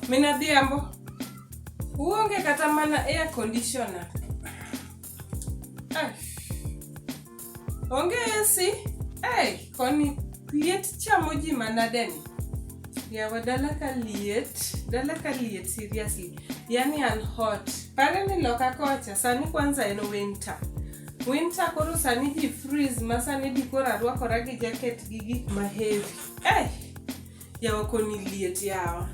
Min Adhiambo, uonge kata mana air conditioner. Ai. Onge AC. Ai, koni liet chamo ji manade ni. Yawa dala ka liet, dala ka liet seriously. Yaani I'm hot. Pale ni loka kocha, sani kwanza en winter. Winter koro sani ji freeze ma sani di koro arwakora gi jaket gi gik ma heavy. Eh, yawa koni liet yawa.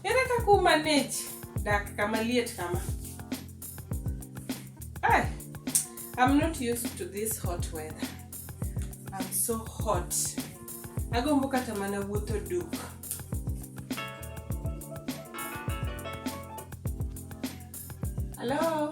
Ere kaka u manage dak kama liet kama? Eh, I'm not used to this hot weather. I'm so hot. Agombo kata mana wuotho duk. Hello?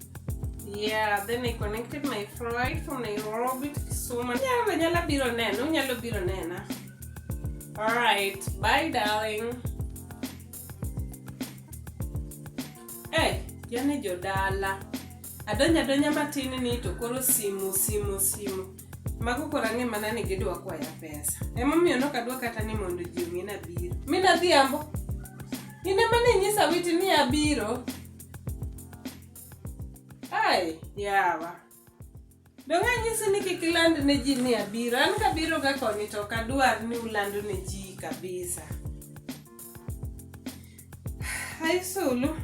Yeah, then I connected my flight from Nairobi to Kisumu. Yeah, vanyala biro neno, unyalo biro nena. All right, bye darling. Eh, yani jodala. Adonya donya matini ni to koro simu simu simu. Mago koro ang'e mana ni gidwa kwaya pesa. Emomiyo nok adwa kata ni mondo ji ong'e nabiro. Mi nadhi ambo. Ine mane inyisa witi ni abiro. Ai, yawa. Donge anyisi ni kik iland ne ji ni abiro. An kabiro ga konyi to ok adwar ni uland ne ji kabisa. Hai Sulu.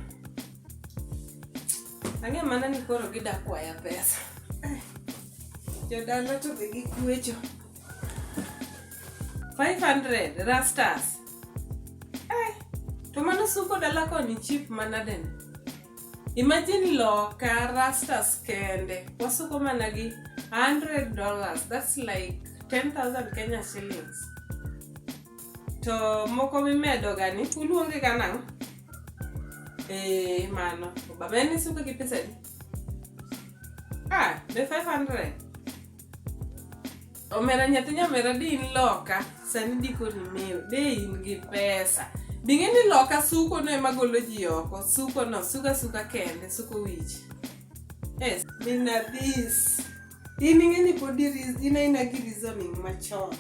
Ang'e mana ni koro gida kwaya pesa. Jodala to be gikwecho. 500 rastas. Eh, to mano suko dala koni chip manadeni imagine loka rastas kende wasuko mana gi 100 dollars that's like 10000 kenya shillings to moko mimedoga ni uluonge ga nang'o eh, mano baba en isuko gi pesadi ah, be 500 omera nyathi nyamera de in loka sani diko rimeo de in gi pesa bing'e ni loka suko no ema golo ji oko suko no suka suka kende suko wich yes mina this in ing'e ni pod in aina gi reasoning machon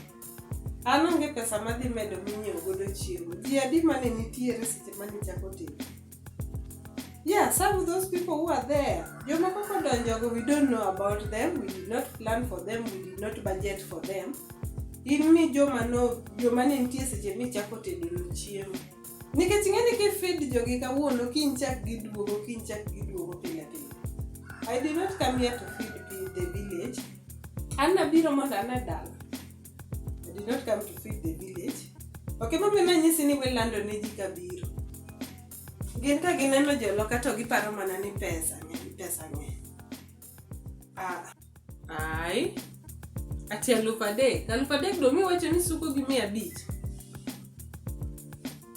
an onge pesa madhi medo minyiewo godo chiemo ji adi mane nitiere seche mane ichako timo Yeah, some of those people who are there, joma koko donjogo, we don't know about them, we did not plan for them, we did not budget for them. In ni joma no, joma ne nitie seche michako tedo no chiemo. Nikech ing'e ni kifeed jogi kawuono, kiny chak giduogo, kiny chak giduogo pile pile. I did not come here to feed the village. An nabiro mondo ane dala. I did not come to feed the village. Ok ema be nanyisi ni welando ne ji kabiro. Gin ka gineno joloka to giparo mana ni pesa ng'eny, pesa ng'eny. Ah, Ai. Ati alufu adek. Alufu adek do miwacho ni suko gi mia abich.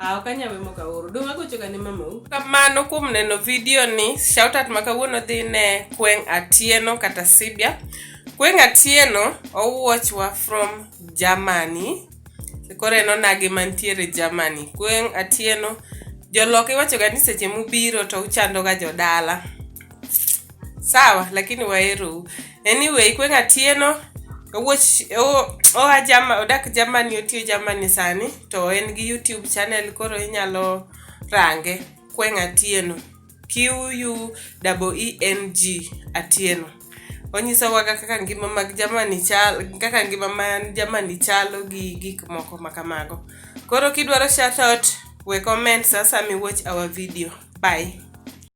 Ah, ok anyal wemo kawuono. Dong' agocho ga ne mamau. Kamano kuom neno video ni. Shout out ma kawuono dhi ne Kweng' Atieno kata Sibia. Kweng' Atieno owuochwa from Germany. Koro en onagi mantiere Germany. Kweng' Atieno jolok iwachoga ni seche mubiro to uchandoga jodala. Sawa, lakini waherou. anyway kweng' atieno owuoch oa jama odak jamani otiyo jamani sani to en gi youtube channel koro inyalo range kweng' atieno q u double e n g atieno onyisowa kaka ngima mag jamani chalo kaka ngima man jamani chalo gi gik moko ma kamago koro kidwaro shatout we comment sasa miwatch our video bye